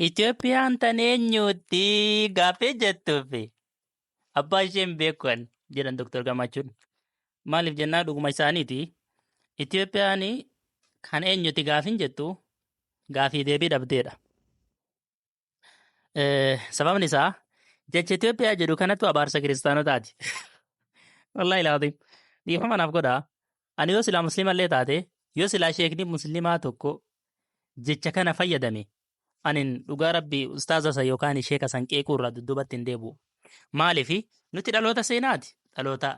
Itoophiyaan tan eenyuutti gaaffii jettuufi abbaa isheen beekan jedhan Dr. Gammachuun. Maaliif jennaa dhuguma isaaniiti. Itoophiyaan kan eenyuutti gaaffii jettu gaaffii deebii dhabdeedha. Eh, Sababni isaa jecha Itoophiyaa jedhu kanatu abaarsa kiristaanotaati. Wallaahi laatiin. Dhiifama naaf godhaa. Ani yoo silaa musliima illee taate, yoo silaa sheekni musliimaa tokko jecha kana fayyadame, anin dhugaa rabbi ustaaza san yookaan sheeka san qeequu irraa dudduubatti hin deebi'u. Maaliif nuti dhaloota seenaati. Dhaloota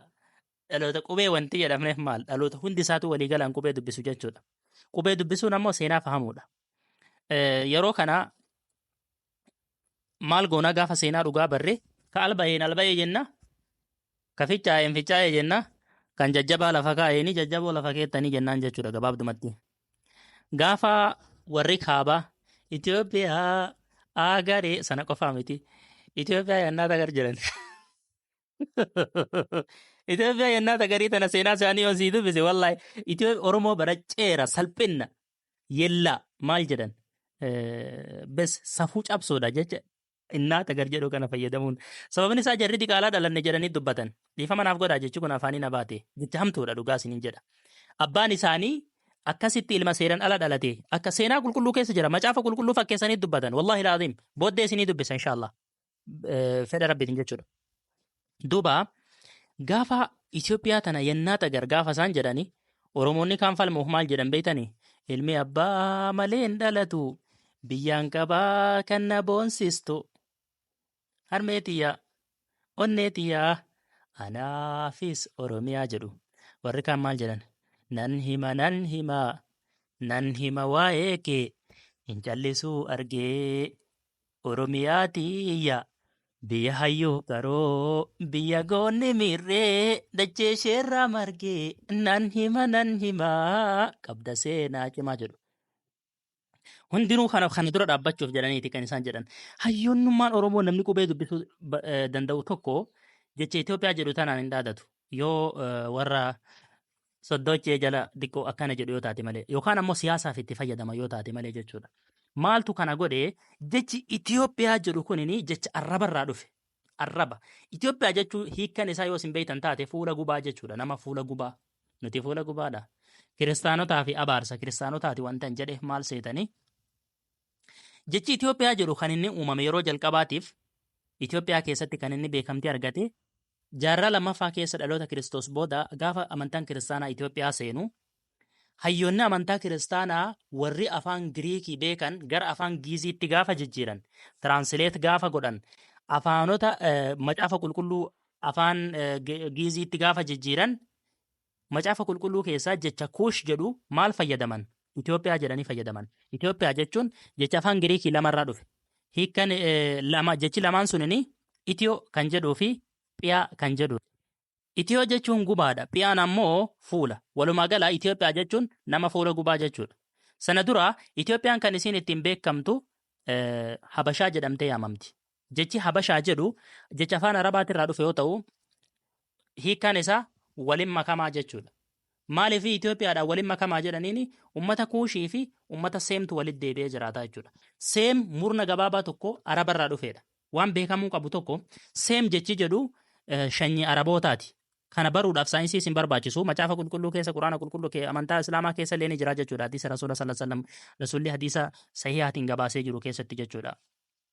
dhaloota qubee wanti jedhamneef maal dhaloota hundi isaatu walii galaan qubee dubbisu jechuudha. Qubee dubbisuun ammoo seenaa fahamuudha. Eh, Yeroo kana maal goonaa gaafa seenaa dhugaa barree ka alba'een alba'ee jenna ka fichaa'een fichaa'ee jenna kan jajjabaa lafa kaa'eeni jajjaboo lafa keettanii jennaan jechuudha gabaabdumatti. Gaafa warri kaabaa Itoophiyaa agaree sana qofaa miti Itoophiyaa yannaa tagar jiran. Itoophiyaa yennaa tagarii tana seenaa isaanii yoo sii dubbise wallahi Itoophiyaa Oromoo bara ceera salphinna yellaa maal jedhan Eh, bes safuu cabsuudha jecha innaa tagar jedhu kana fayyadamuun sababni isaa jarri diqaalaa dhalanne jedhanii dubbatan dhiifama naaf godhaa jechi kun afaanii na baate jecha hamtuudha dhugaa isiniin jedha abbaan isaanii akkasitti ilma seeran ala dhalate akka seenaa qulqulluu keessa jira macaafa qulqulluu fakkeessanii dubbatan wallahi laaziim booddee isinii dubbisa inshaallah eh, fedha rabbiitiin jechuudha. Duuba gaafa Itoophiyaa tana yennaa xagar gaafa isaan jedhani Oromoonni kaan falmuuf maal jedhan beektani? Ilmi abbaa malee hin dhalatu biyyaan qabaa kan na boonsistu harmee tiyyaa onnee tiyyaa anaafis Oromiyaa jedhu. Warri kaan maal jedhan? Nan hima nan hima nan hima waa'ee kee hin callisuu argee Oromiyaati yaa biyya hayyuu qaroo biyya goonni miirree dachee isheerraa marge nan hima nan hima qabda seenaa cimaa jedhu. Hundinuu kana kana dura dhaabbachuuf jedhaniiti kan isaan jedhan. Hayyoonnummaan Oromoo namni qubee dubbisuu ba- eh, danda'u tokko jecha Itoophiyaa jedhu tanaan hin dhaadatu. Yoo eh, warra soddoochee jala diqqoo akkana jedhu yoo taate malee yookaan ammoo siyaasaaf itti fayyadama yoo taate malee jechuudha. Maaltu kana godhe jechi Itoophiyaa jedhu kunin jecha arrabarraa dhufe. Arraba. Itoophiyaa jechuun hiikkan isaa yoo isin beektan taate fuula gubaa jechuudha. Nama fuula gubaa. Nuti fuula gubaadha. Kiristaanotaa fi abaarsa kiristaanotaati wantan jedhe maal seetanii? Jechi Itoophiyaa jedhu kan inni uumame yeroo jalqabaatiif Itoophiyaa keessatti kan inni beekamtii argate jaarraa lammaffaa keessa dhaloota Kiristoos booda gaafa amantaan kiristaanaa Itoophiyaa seenu hayyoonni amantaa kiristaanaa warri afaan Giriikii beekan gara afaan Giiziitti gaafa jijjiiran tiraansileet gaafa godhan afaanota eh, macaafa qulqulluu afaan eh, Gi- Giiziitti gaafa jijjiiran Macaafa Qulqulluu keessaa jecha Kuush jedhu maal fayyadaman? Itoophiyaa jedhanii fayyadaman. Itoophiyaa jechuun jecha afaan Giriikii lamarraa dhufe. Hiikkan lama jechi lamaan sunini Itiyoo kan jedhuu fi Phiyaa kan jedhu. Itiyoo jechuun gubaadha. Phiyaan ammoo fuula. Walumaa gala Itoophiyaa jechuun nama fuula gubaa jechuudha. Sana dura Itoophiyaan kan isiin ittiin beekamtu Habashaa jedhamtee yaamamti. Jechi Habashaa jedhu jecha afaan Arabaatii irraa dhufe yoo ta'u, hiikkaan isaa walin makamaa jechuudha. Maaliif Itoophiyaadhaan walin makamaa jedhaniin uummata Kuushii fi uummata Seemtu walitti deebi'ee jiraataa jechuudha. Seem murna gabaabaa tokko Araba irraa dhufeedha. Waan beekamuu qabu tokko Seem jechi jedhu shanyii Arabootaati. Kana baruudhaaf saayinsii isin barbaachisu macaafa qulqulluu keessa quraana qulqulluu kee amantaa islaamaa keessa illee ni jira jechuudha hadiisa rasuula sallallahu alaihi wasallam rasuulli hadiisa sahihaatiin gabaasee jiru keessatti jechuudha.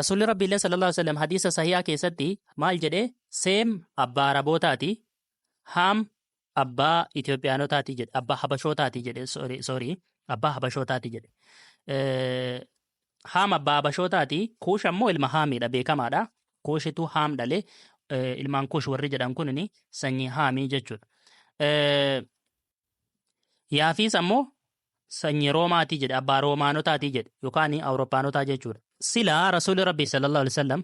Rasuulli Rabbiillee sallallahu alaihi wasallam hadiisa sahihaa keessatti maal jedhe seem abbaa arabootaati haam abbaa Itoophiyaanotaati jedhe abbaa habashootaati jedhe sorry sorry abbaa habashootaati jedhe Eh, haam abbaa habashootaati kuush ammoo ilma haamiidha beekamaadha kuushitu haam dhale Eh, ilmaan kuush warri jedhan kunini sanyii haamii jechuudha Eh, yaafiis ammoo Sanyii Roomaatii jedhe, abbaa Roomaanotaatii jedhe, yookaan Awuroppaanotaa jechuudha. Sila Rasuulli Rabbii sallallahu alaihi wasallam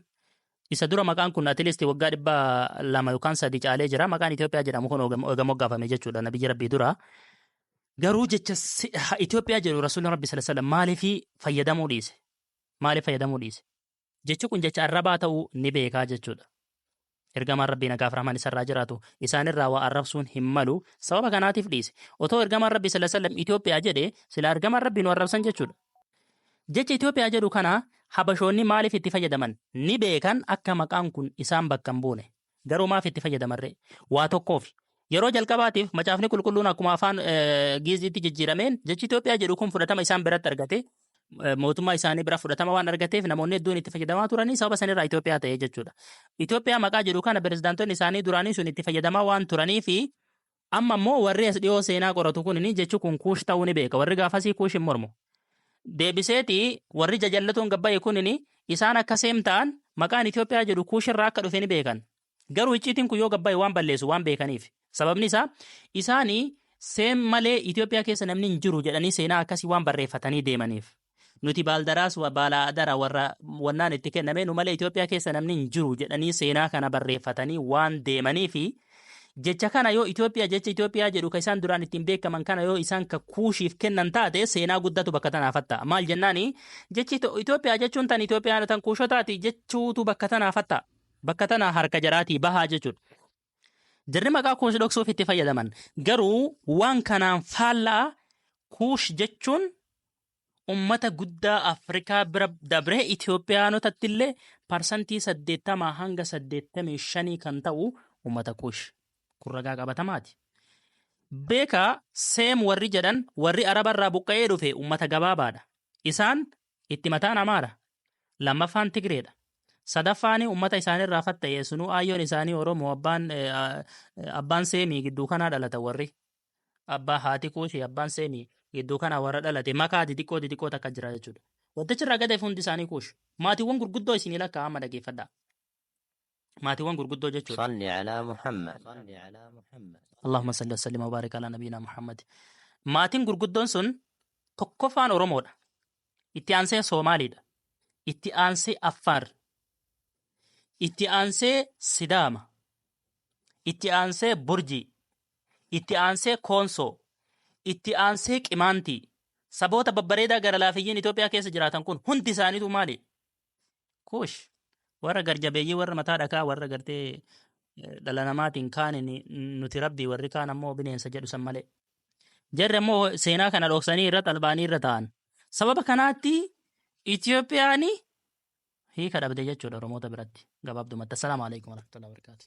isa dura maqaan kun atilisti waggaa dhibba lama yookaan sadi caalee jira. Maqaan Itoophiyaa jedhamu kun eega moggaafame jechuudha nabiyyi Rabbii dura. Garuu jecha Itoophiyaa jedhu Rasuulli Rabbii sallallahu alaihi wasallam maaliif fayyadamuu dhiise? Maaliif fayyadamuu dhiise? Jechi kun jecha arrabaa ta'uu ni beekaa jechuudha. Ergamaan Rabbii nagaaf rahman isarraa jiraatu isaanirraa waa arrabsuun hin malu sababa kanaatiif dhiise. Otoo ergamaan Rabbii sallallahu alaihi wasallam Itoophiyaa jedhe sila ergamaan Rabbii nu arrabsan jechuudha. Jecha Itoophiyaa jedhu kana Habashoonni maaliif itti fayyadaman ni beekan akka maqaan kun isaan bakka hin buune. Garuu maaf itti fayyadamarree? Waa tokkoofi. Yeroo jalqabaatiif Macaafni Qulqulluun akkuma afaan Giiziitti jijjiirameen jechi Itoophiyaa jedhu kun fudhatama isaan biratti argate. Mootummaa isaanii bira fudhatama waan argateef namoonni hedduun itti fayyadamaa turanii sababa sanirraa Itoophiyaa ta'e jechuudha. Itoophiyaa maqaa jedhu kana pirezidaantonni isaanii duraanii sun itti fayyadamaa waan turaniifi Amma immoo warri as dhiyoo seenaa qoratu kunini jechi kun kuush ta'uu ni beeka. Warri gaafasii kuush hin mormu. Deebiseeti warri jajallatoon gabbaye kunini isaan akka seem ta'an maqaan Itoophiyaa jedhu kuush irraa akka dhufe ni beekan. Garuu icciitiin kun yoo gabbaye waan balleessu waan beekaniif. Sababni isaa isaani seem malee Itoophiyaa keessa namni hin jiru jedhanii seenaa akkasii waan barreeffatanii deemaniif. Nuti baaldaraas wa- baala adara warra wannaan itti kenname nu malee Itoophiyaa keessa namni hin jiru jedhanii seenaa kana barreeffatanii waan deemanii fi jecha kana yoo Itoophiyaa jecha Itoophiyaa jedhu kan isaan duraan ittiin beekaman kana yoo isaan ka kuushiif kennan taate seenaa guddatu bakka tanaaf hatta. Maal jennaani jechi Ito- Itoophiyaa jechuun tan Itoophiyaa tan kuushotaati jechuutu bakka tanaaf hatta. Bakka tana harka jaraatii bahaa jechuudha. Jarri maqaa kuush dhoksuuf itti fayyadaman. Garuu waan kanaan faallaa kuush jechuun ummata guddaa Afrikaa bira dabree Itoophiyaanotatti illee parsantii saddeettamaa hanga saddeettamii shanii kan ta'u ummata kuush. Kun ragaa qabatamaati. Beekaa seem warri jedhan warri Araba irraa buqqa'ee dhufe ummata gabaabaadha. Isaan Itti mataan Amaara. Lammaffaan Tigreedha. Sadaffaani ummata isaanirraa fatta'e sunuu aayyoon isaanii Oromoo abbaan eh, ah, eh, abbaan seemii gidduu kanaa dhalata warri. Abbaa haati kuushi abbaan seemii gidduu kanaa warra dhalate makaa xixiqqoo xixiqqoo takka jira jechuudha. Wantichi irraa gadeef hundi isaanii kuushi. Maatiiwwan gurguddoo isinii lakkaa amma dhageeffadhaa. maatiiwwan gurguddoo jechuudha صل على محمد Allahumma salli wa sallim wa baarik ala nabiyyina Muhammad. Maatiin gurguddoon sun tokkoffaan Oromoodha. Itti aansee Soomaaliidha. Itti aansee Affaar. Itti aansee Sidaama. Itti aansee Burjii. Itti aansee Koonsoo. Itti aansee Qimaantii. Saboota babbareedaa gara laafiyyiin Itoophiyaa keessa jiraatan kun hundi isaaniitu maali? Kuush warra garjabeeyyii warra mataa dhakaa warra gartee eh, dhala namaatiin kaaniin nuti rabbii warri kaan ammoo bineensa jedhu san malee. Jarri ammoo seenaa kana dhoksanii irra xalbaanii irra ta'an. Sababa kanaatti Itoophiyaan hiika dhabde jechuudha Oromoota biratti gabaabdumatti. Assalaamu alaikum warahmatullahi wabarakatuh.